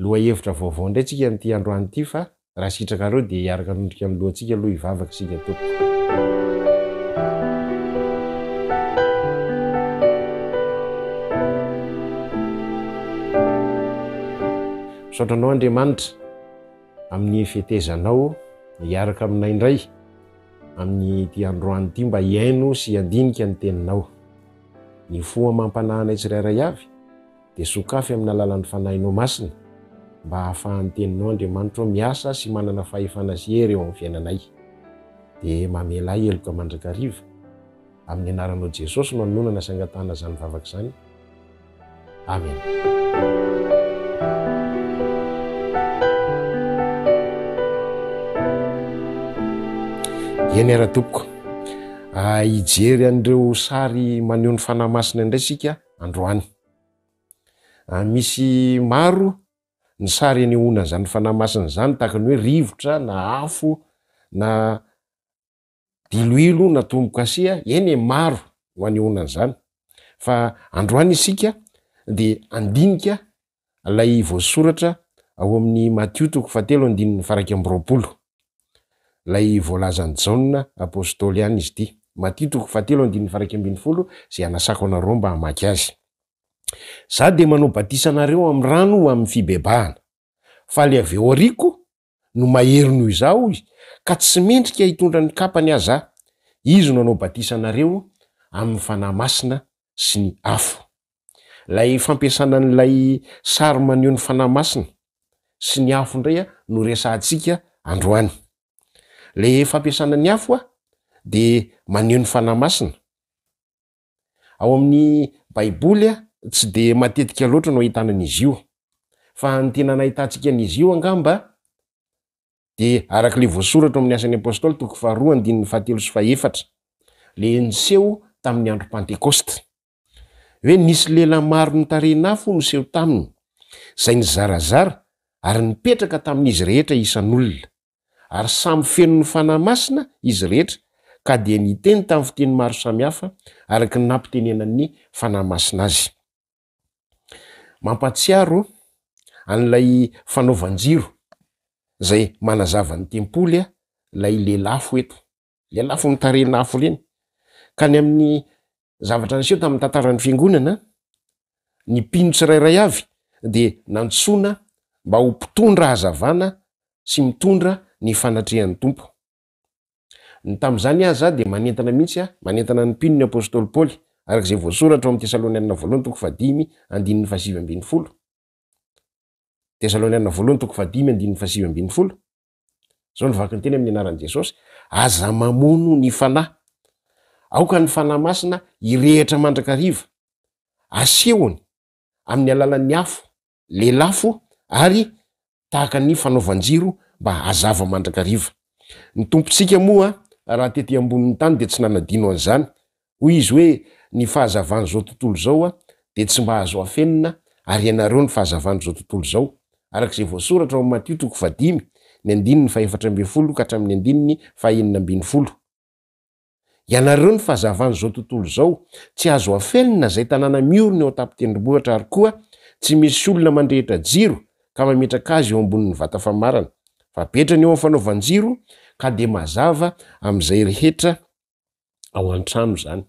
Lohahevitra vaovao indray tsika amin'ity androany ity fa raha sitrakareo dia hiaraka hanondrika ny lohantsika aloha hivavaka isika tompoko. Misaotra anao Andriamanitra amin'ny fetezanao hiaraka aminay indray amin'ity androany ity mba hihaino sy handinika ny teninao. Mifoha amam-panahy anay tsirairay avy dia sokafy amin'ny alalan'ny Fanahinao Masina mba hahafahan'ny Teninao, Andriamanitro, miasa sy manana fahefana sy hery eo amin'ny fiainanay. Dia mamela ahy heloka mandrakariva, amin'ny Anaranao Jesosy no anononana sy angatahana izany vavaka izany. Amena. Eny ara-tompoko, hijery an'ireo sary maneho ny Fanahy Masina indray isika. androany. Misy maro ny sary anehoana an'izany fanahy masina izany tahaka ny hoe rivotra na afo na diloilo na tombo-kasia, eny e maro no anehoana an'izany fa androany isika dia handinika ilay voasoratra ao amin'ny Matio toko fahatelo andininy faraika amby roapolo. Ilay voalazan'i Jaona apostoly ihany izy ity. Matio toko fahatelo andininy faraika ambin'ny folo izay anasako anareo mba hamaky azy. Za dia manao batisa anareo amin'ny rano ho amin'ny fibebahana. Faly avy ao ariko no mahery noho izaho, hoy, ka tsy mendrika hitondra ny kapany aza aho. Izy no hanao batisa anareo amin'ny Fanahy Masina sy ny afo. Ilay fampiasana an'ilay sary maneho ny Fanahy Masina sy ny afo indray no resahantsika androany. Ilay fampiasana ny afo dia maneho ny Fanahy Masina. Ao amin'ny Baiboly a! Tsy dia matetika loatra no ahitana an'izy io, fa ny tena nahitantsika an'izy io angamba dia araka ilay voasoratra ao amin'ny Asan'ny Apostoly toko faharoa andininy fahatelo sy fahefatra, ilay niseho tamin'ny andro Pantekôsta. Hoe nisy lehilahy maro nitarehin'afo niseho taminy, izay nizarazara ary nipetraka tamin'izy rehetra isan'olona. ary samy feno ny Fanahy Masina izy rehetra ka dia niteny tamin'ny fiteny maro samihafa araka ny nampitenenan'ny Fanahy Masina azy. Mampahatsiaro an'ilay fanaovan-jiro izay manazava ny tempoly ilay lelafo eto. ilay lafiny tarehina afo ireny. Ka ny amin'ny zavatra niseho tamin'ny tantaran'ny fiangonana, ny mpino tsirairay avy dia nantsoina mba ho mpitondra hazavana sy mitondra ny fanatrehan'ny Tompo. Ny tamin'izany aza dia manentana mihitsy, manentana ny mpino ny apostoly Paoly, araka izay voasoratra ao amin'ny Tesalonianina Voalohany toko fahadimy andininy fahasivy ambin'ny folo. Tesalonianina Voalohany toko fahadimy andininy fahasivy ambin'ny folo. Izao no vaky ny teny amin'ny anaran'i Jesosy, aza mamono ny fanahy. Aoka ny fanahy masina hirehitra mandrakariva. Asehony amin'ny alalan'ny afo, lelafo ary tahaka ny fanaovan-jiro mba hazava mandrakariva. Ny Tompontsika moa raha tety ambonin'ny tany dia tsy nanadino an'izany Hoy izy hoe, Ny fahazavan'izao tontolo izao dia tsy mba azo afenina, ary ianareo ny fahazavan'izao tontolo izao. Araka izay voasoratra ao amin'ny Matio toko fahadimy, ny andininy fahefatra ambin'ny folo ka hatramin'ny andininy fahenina ambin'ny folo. Ianareo ny fahazavan'izao tontolo izao. Tsy azo afenina izay tanàna miorina eo an-tampon-tendrombohitra ary koa tsy misy olona mandrehitra jiro ka mametraka azy eo ambonin'ny vata famarana. Fa betrany eo amin'ny fanaovan-jiro ka dia mazava amin'izay rehetra ao an-trano izany.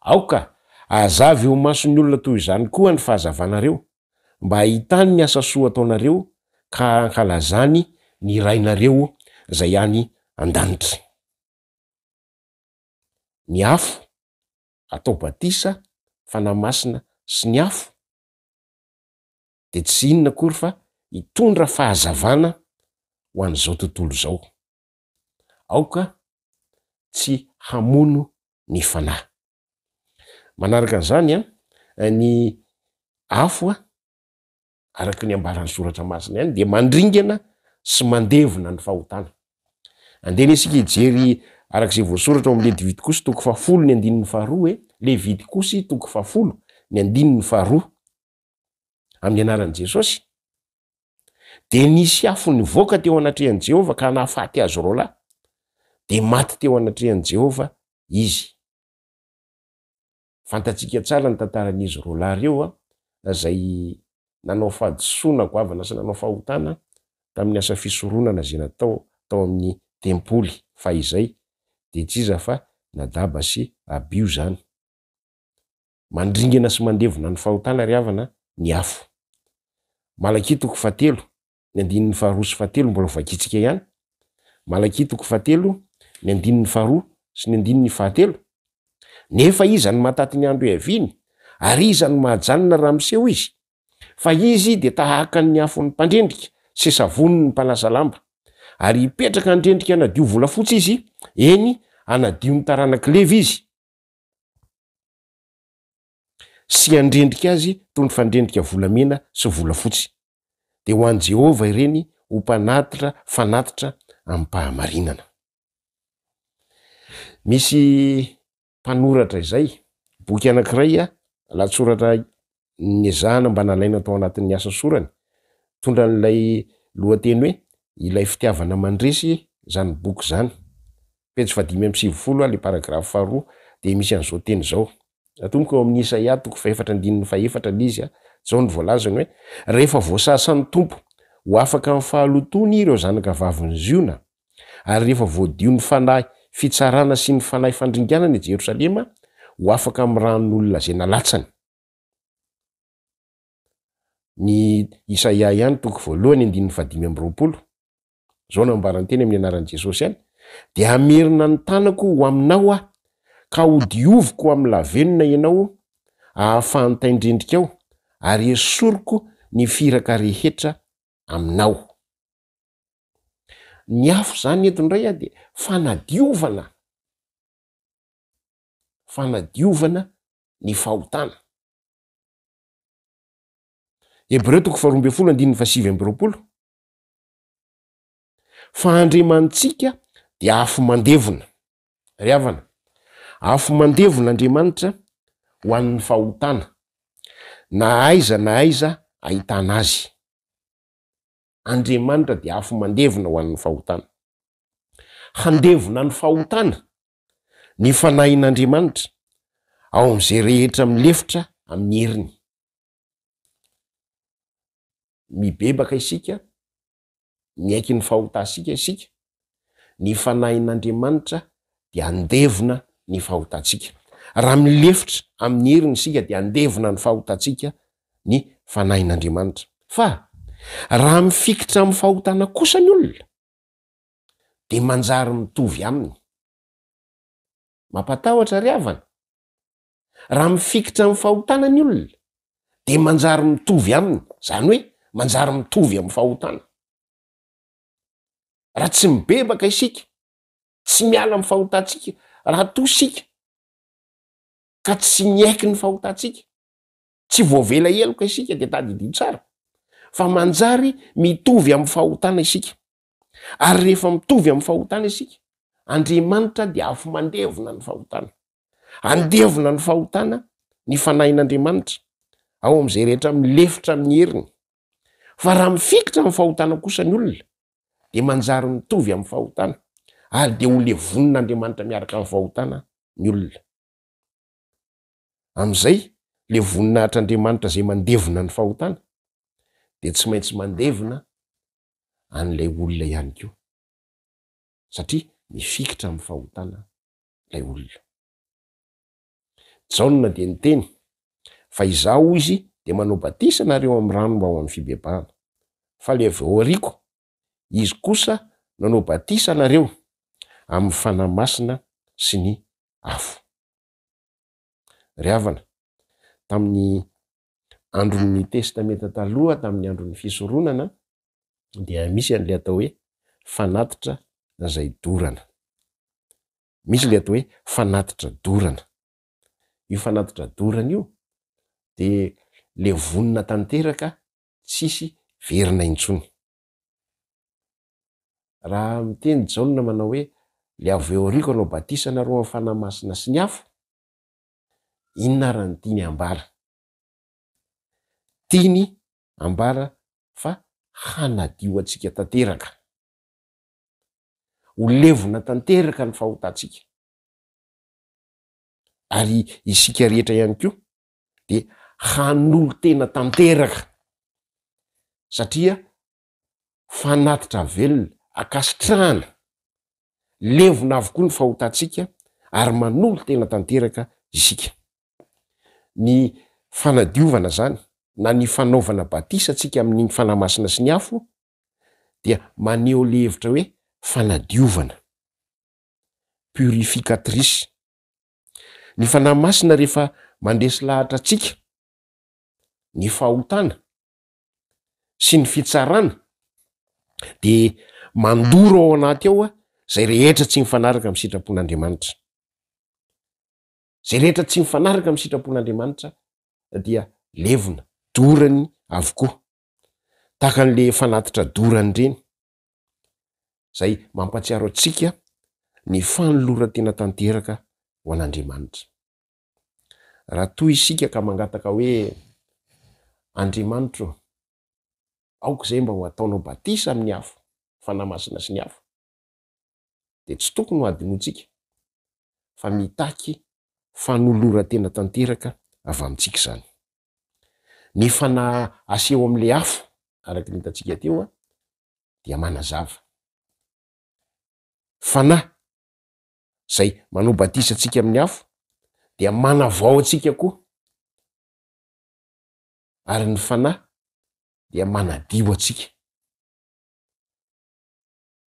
Aoka hazava eo mason'ny olona toy izany koa ny fahazavanareo, mba hahitany ny asa soa ataonareo ka hankalazany ny Rainareo izay any an-danitra. Ny afo atao batisa, Fanahy Masina sy ny afo dia tsy inona akory fa hitondra fahazavana ho an'izao tontolo izao. Aoka tsy hamono ny fanahy. Manaraka an'izany, ny afo, araka ny ambaran'ny Soratra Masina ihany, dia mandringana sy mandevona ny fahotana. Andeha isika hijery araka izay voasoratra ao amin'ny Levitikosy toko fahafolo ny andininy faharoa e, Levitikosy toko fahafolo ny andininy faharoa. amin'ny anaran'i Jesosy. Dia nisy afo nivoaka teo anatrehan'i Jehovah ka nahafaty azy roa lahy. Dia maty teo anatrehan'i Jehovah izy. Fantatsika tsara ny tantaran'izy roa lahy ireo a, izay nanao fahadisoana goavana sy nanao fahotana tamin'ny asa fisoronana izay natao tao amin'ny tempoly fahizay, dia tsy iza fa Nadaba sy Abio izany. Mandringana sy mandevona ny fahotana ry havana ny afo. Malakia toko fahatelo, ny andininy faharoa sy fahatelo mbola hovakiantsika ihany. Malakia toko fahatelo, ny andininy faharoa sy ny andininy fahatelo. Nefa iza no mahataty ny andro hiaviany? Ary iza no mahajanona raha miseho izy? Fa izy dia tahaka ny afon'ny mpandrendrika sy savonin'ny mpanasa lamba. Ary hipetraka handrendrika hanadio volafotsy izy, eny, hanadio ny taranak'i Levy izy. sy handrendrika azy toy ny fandrendrika volamena sy volafotsy, dia ho an'i Jehovah ireny ho mpanatitra fanatitra amim-pahamarinana. Misy mpanoratra izay boky anankiray, lahatsoratra Niezahana mba nalaina tao anatin'ny asa sorany. Tondra an'ilay lohateny hoe Ilay Fitiavana Mandresy izany boky izany. Pejy fahadimy amby sivifolo, ilay paragrafy faharoa, dia misy an'izao teny izao, Atomboka eo amin'ny Isaia toko fahefatra andininy fahefatra ilay izy, izao no voalazany hoe, Rehefa voasasan'ny Tompo ho afaka amin'ny fahalotoany ireo zanakavavin'i Ziona, ary rehefa voadio ny fanahy fitsarana sy ny fanahy fandringanana i Jerosalema ho afaka amin'ny ran'olona izay nalatsany. Ny Isaia ihany toko voalohany andininy fahadimy amby roapolo, izao no ambarany teny amin'ny anaran'i Jesosy any, dia hamerina ny tanako ho aminao aho, ka hodioviko ho amin'ny lavenona ianao, ahafahan'ny taindrendrikao, ary hesoriko ny firaka rehetra aminao. Ny afo izany eto indray dia fanadiovana. fanadiovana ny fahotana. Hebreo toko faharoa ambin'ny folo andininy fahasivy amby roapolo, fa Andriamanitsika dia afo mandevona. Ry havana, afo mandevona Andriamanitra ho an'ny fahotana, na aiza na aiza ahitana azy. Andriamanitra dia afo mandevona ho an'ny fahotana. Handevona ny fahotana ny fanahin'Andriamanitra ao amin'izay rehetra milefitra amin'ny heriny. Mibebaka isika, miaiky ny fahotantsika isika, ny fanahin'Andriamanitra dia andevona ny fahotantsika. Raha milefitra amin'ny heriny isika dia andevona ny fahotantsika ny fanahin'Andriamanitra. Fa raha mifikitra amin'ny fahotana kosa ny olona, dia manjary mitovy aminy. Mampatahotra ry havana? Raha mifikitra amin'ny fahotana ny olona dia manjary mitovy aminy, izany hoe manjary mitovy amin'ny fahotana. Raha tsy mibebaka isika, tsy miala amin'ny fahotantsika, raha toa isika ka tsy miaiky ny fahotantsika, tsy voavela heloka isika dia tadidio tsara fa manjary mitovy amin'ny fahotana isika. Ary rehefa mitovy amin'ny fahotana isika, Andriamanitra dia afi-mandevona ny fahotana. Handevona ny fahotana ny Fanahin'Andriamanitra ao amin'izay rehetra milefitra amin'ny heriny. Fa raha mifikitra amin'ny fahotana kosa ny olona, dia manjary mitovy amin'ny fahotana, ary dia holevonin'Andriamanitra miaraka amin'ny fahotana ny olona. Amin'izay, ilay voninahitr'Andriamanitra izay mandevona ny fahotana, dia tsy maintsy mandevona an'ilay olona ihany koa, satria mifikitra amin'ny fahotana ilay olona. Jaona dia niteny, Fa izaho, hoy izy, dia manao batisa anareo amin'ny rano mba ho amin'ny fibebahana. Fa ilay avy ao aoriako, izy kosa no hanao batisa anareo amin'ny fanahy masina sy ny afo. Ry havana, tamin'ny andron'ny Testamenta Taloha, tamin'ny andron'ny fisoronana, dia misy an'ilay atao hoe fanatitra izay dorana. Misy ilay atao hoe fanatitra dorana. Io fanatitra dorana io dia levonina tanteraka, tsisy verina intsony. Raha miteny Jaona manao hoe, Ilay avy eo aoriako hanao batisa anareo amin'ny fanahy masina sy ny afo, inona àry no tiany hambara? Tiany hambara fa hanadio antsika tanteraka. Ho levona tanteraka ny fahotantsika. Ary isika rehetra ihany koa dia hanolo-tena tanteraka, satria fanatitra velona, ankasitrahana, levona avokoa ny fahotantsika ary manolo-tena tanteraka isika. Ny fanadiovana izany na ny fanaovana batisa antsika amin'ny Fanahy Masina sy ny afo dia maneho ilay hevitra hoe fanadiovana, purificatrice. Ny Fanahy Masina rehefa mandresy lahatra antsika ny fahotana sy ny fitsarana de mandoro ao anaty ao a zay rehetra tsy mifanaraka amin'ny sitrapon'Andriamanitra zay rehetra tsy mifanaraka amin'ny sitrapon'Andriamanitra dia levona dorany avokoa tahaka an'le fanatitra dorany ireny zay mampatsiaro antsika ny fanoloran-tena tanteraka ho an'Andriamanitra Raha toa isika ka mangataka hoe, Andriamanitro, aoka izay mba ho ataonao batisa amin'ny afo, Fanahy Masina sy ny afo, dia tsy tokony ho adinointsika fa mitaky fanoloran-tena tanteraka avy amintsika izany. Ny Fanahy aseho amin'ilay afo, araka ny hitantsika teo, dia manazava. Fanahy izay manao batisa antsika amin'ny afo dia manavao antsika koa ary ny fanahy dia manadio antsika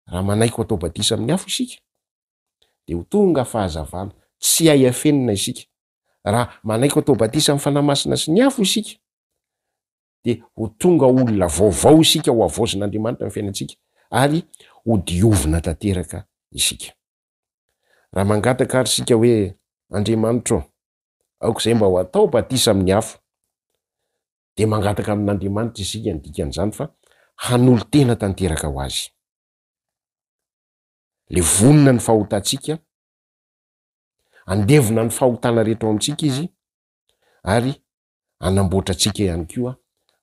raha manaiky ho atao batisa amin'ny afo isika dia ho tonga fahazavana tsy hay afenina isika raha manaiky ho atao batisa amin'ny fanahy masina sy ny afo isika dia ho tonga olona vaovao isika, hohavaozin'Andriamanitra ny fiainantsika ary hodiovina tanteraka isika. Raha mangataka àry isika hoe, Andriamanitra ô, aok'izay mba ho atao batisa amin'ny afo, dia mangataka amin'Andriamanitra isika ny dikan'izany fa hanolo-tena tanteraka ho Azy. Levonina ny fahotantsika, andevona ny fahotana rehetra ao amintsika Izy, ary hanamboatra antsika ihany koa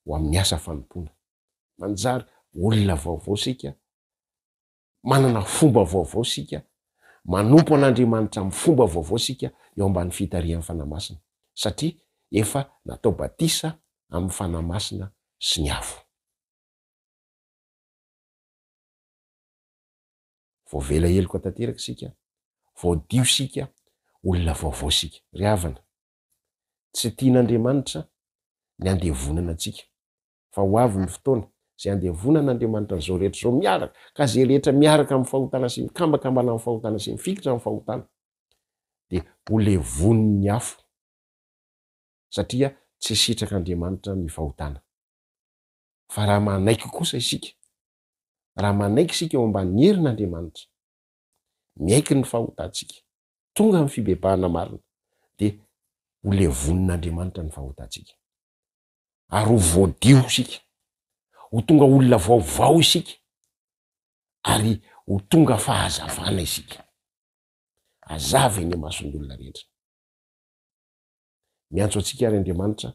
ho amin'ny asa fanompoana. Manjary olona vaovao isika, manana fomba vaovao isika, manompo an'Andriamanitra amin'ny fomba vaovao isika eo ambany fitarihan'ny Fanahy Masina, satria efa natao batisa amin'ny Fanahy Masina sy ny afo. Voavela heloka tanteraka isika, voadio isika, olona vaovao isika. Ry havana, Tsy tian'Andriamanitra ny handevonana antsika, fa ho avy ny fotoana izay handevonan'Andriamanitra an'izao rehetra izao miaraka, ka izay rehetra miaraka amin'ny fahotana sy mikambakambana amin'ny fahotana sy mifikitra amin'ny fahotana dia ho levonin'ny afo, satria tsy sitrak'Andriamanitra ny fahotana. Fa raha manaiky kosa isika, raha manaiky isika eo ambanin'ny herin'Andriamanitra, miaiky ny fahotantsika, tonga amin'ny fibebahana marina, dia ho levonin'Andriamanitra ny fahotantsika. Ary ho voadio isika, ho tonga olona vaovao isika, ary ho tonga fahazavana isika. Hazava eny imason'ny olona rehetra. Miantso antsika àry Andriamanitra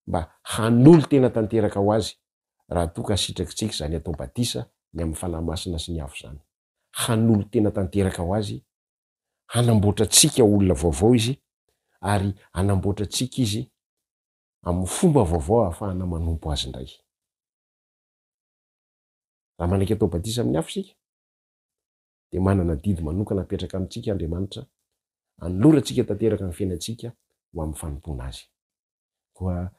mba hanolo-tena tanteraka ho Azy, raha toa ka sitrakitsika izany atao batisa ny amin'ny Fanahy Masina sy ny afo izany. Hanolo-tena tanteraka ho Azy, hanamboatra antsika olona vaovao Izy, ary hanamboatra antsika Izy amin'ny fomba vaovao ahafahana manompo Azy indray. Raha manaiky atao batisa amin'ny afo isika, dia manana adidy manokana apetraka amintsika Andriamanitra, anolorantsika tanteraka ny fiainantsika ho amin'ny fanompoana Azy. Koa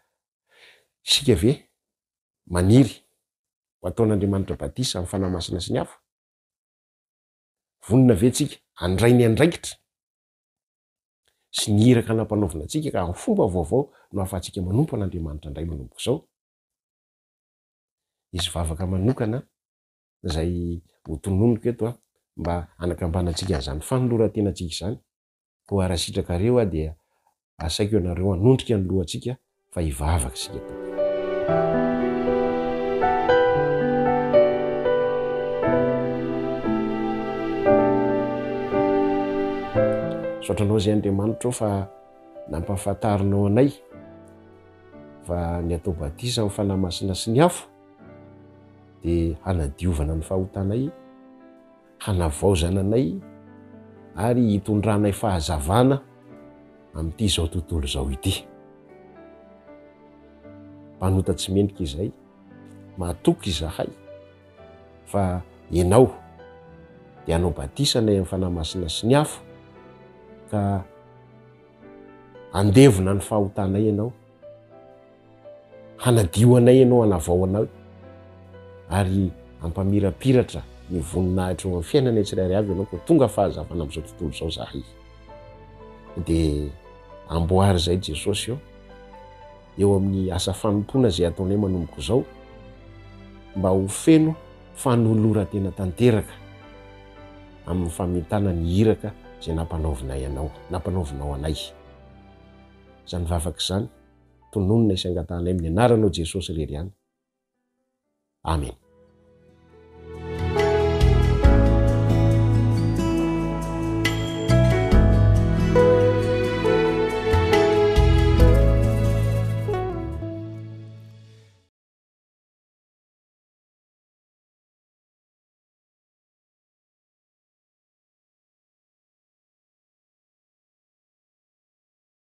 isika ve maniry ho ataon'Andriamanitra batisa amin'ny Fanahy Masina sy ny afo? Vonona ve tsika handray ny andraikitra sy ny iraka nampanaovina antsika ka amin'ny fomba vaovao no ahafahantsika manompo an'Andriamanitra indray manomboka izao? Hisy vavaka manokana izay ho tononiko eto an, mba hanakambanantsika an'izany fanoloran-tenantsika izany, koa raha sitrakareo aho dia asaiko ianareo hanondrika ny lohantsika fa hivavaka isika Tompo. Misaotra Anao izay Andriamanitro fa nampahafantarinao anay fa ny atao batisa amin'ny Fanahy Masina sy ny afo dia hanadiovana ny fahotanay, hanavaozana anay ary hitondranay fahazavana amin'ity izao tontolo izao ity. Mpanota tsy mendrika izay, matoky izahay fa ianao dia hanao batisa anay amin'ny fanahy masina sy ny afo ka handevona ny fahotanay ianao. Hanadio anay Ianao, hanavao anay, ary hampamirapiratra ny voninahitro eo amin'ny fiainanay tsirairay avy Ianao, koa tonga fahazavana amin'izao tontolo izao izahay. Dia amboary izay Jesosy ô, eo amin'ny asa fanompoana izay ataonay manomboka izao, mba ho feno fanoloran-tena tanteraka amin'ny famitana ny iraka izay nampanaovinay Anao, nampanaovinao anay. izany vavaka izany, tononina isy angatahana amin'ny anaranao Jesosy irery ihany. Amen.